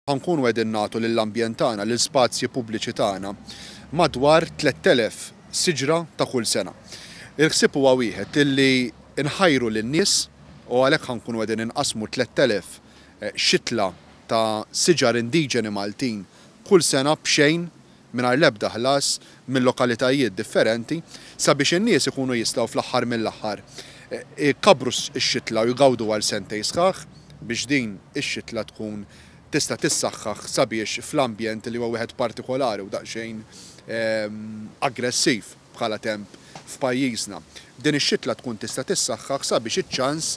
Ħa nkunu qegħdin nagħtu lill-ambjent tagħna, lill-spazji pubbliċi tagħna, madwar 3,000 siġra ta' kull sena. Il-ħsieb huwa wieħed, illi nħajru lin-nies u għalhekk ħa nkunu qegħdin inqassmu 3,000 xitla ta' siġar indiġeni Maltin kull sena b'xejn mingħajr l-ebda ħlas minn lokalitajiet differenti, sabiex in-nies ikunu jistgħu fl-aħħar mill-aħħar ikabbru x-xitla u jgawdu għal sentejn sħaħ, biex din ix-xitla tkun tista' tissaħħaħ sabiex fl-ambjent li huwa wieħed partikolari u daqsxejn aggressiv bħala temp f'pajjiżna, din ix-xitla tkun tista' tissaħħaħ sabiex iċ-ċans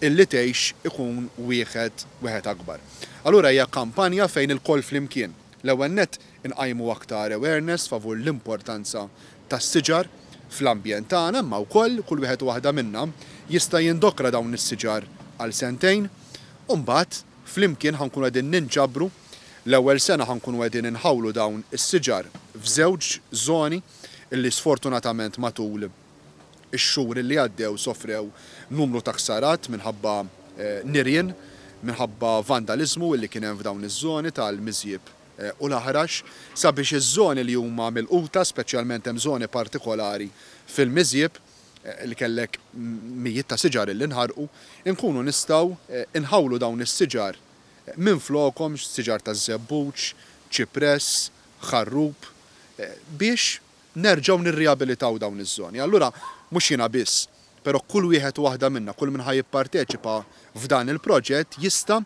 illi tgħix ikun wieħed akbar. Allura hija kampanja fejn ilkoll flimkien, l-ewwel nett, inqajmu aktar awareness favur l-importanza tas-siġar fl-ambjent tagħna imma wkoll kull wieħed u waħda minna jista' jindokra dawn is-siġar għal sentejn u mbagħad flimkien ħa nkunu qegħdin ninġabru l-ewwel sena ħa nkunu qegħdin inħawlu dawn is-siġar f'żewġ żoni li sfortunatament matul ix-xhur li għaddew sofrew numru ta' ħsarat minħabba nirien minħabba vandaliżmu li kien hemm f'dawn iż-żoni tal-miżjieb u l-aħrax sabiex iż-żoni li huma milquta, speċjalment hemm żoni partikolari fil-miżjieb li kellek mijiet ta' siġar illi nħarqu, inkunu nistgħu nħawlu dawn is-siġar minflokhom, siġar taż-żebbuġ, ċipress, ħarrub, biex nerġgħu nirrijabilitaw dawn iż-żoni. Allura mhux jiena biss, però kull wieħed u waħda minna, kull min ħa jipparteċipa f'dan il-proġett jista'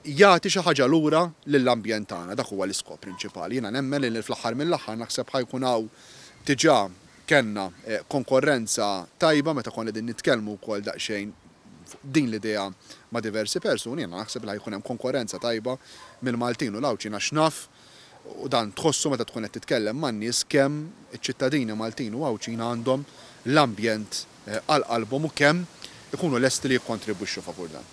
jagħti xi ħaġa lura lill-ambjent tagħna. Dak huwa l-iskop prinċipali. Jiena nemmen li fl-aħħar mill-aħħar naħseb ħa jkun hawn, diġà kellna konkorrenza tajba meta konna qegħdin nitkellmu wkoll daqsxejn fuq din l-idea ma' diversi persuni, jiena naħseb li ħa jkun hemm konkorrenza tajba mill-Maltin u l-Għawdxin għax naf, u dan tħossu meta tkun qed titkellem man-nies kemm iċ-ċittadini Maltin u Għawdxin għandhom l-ambjent għal qalbhom u kemm ikunu lesti li jikkontribwixxu favur dan.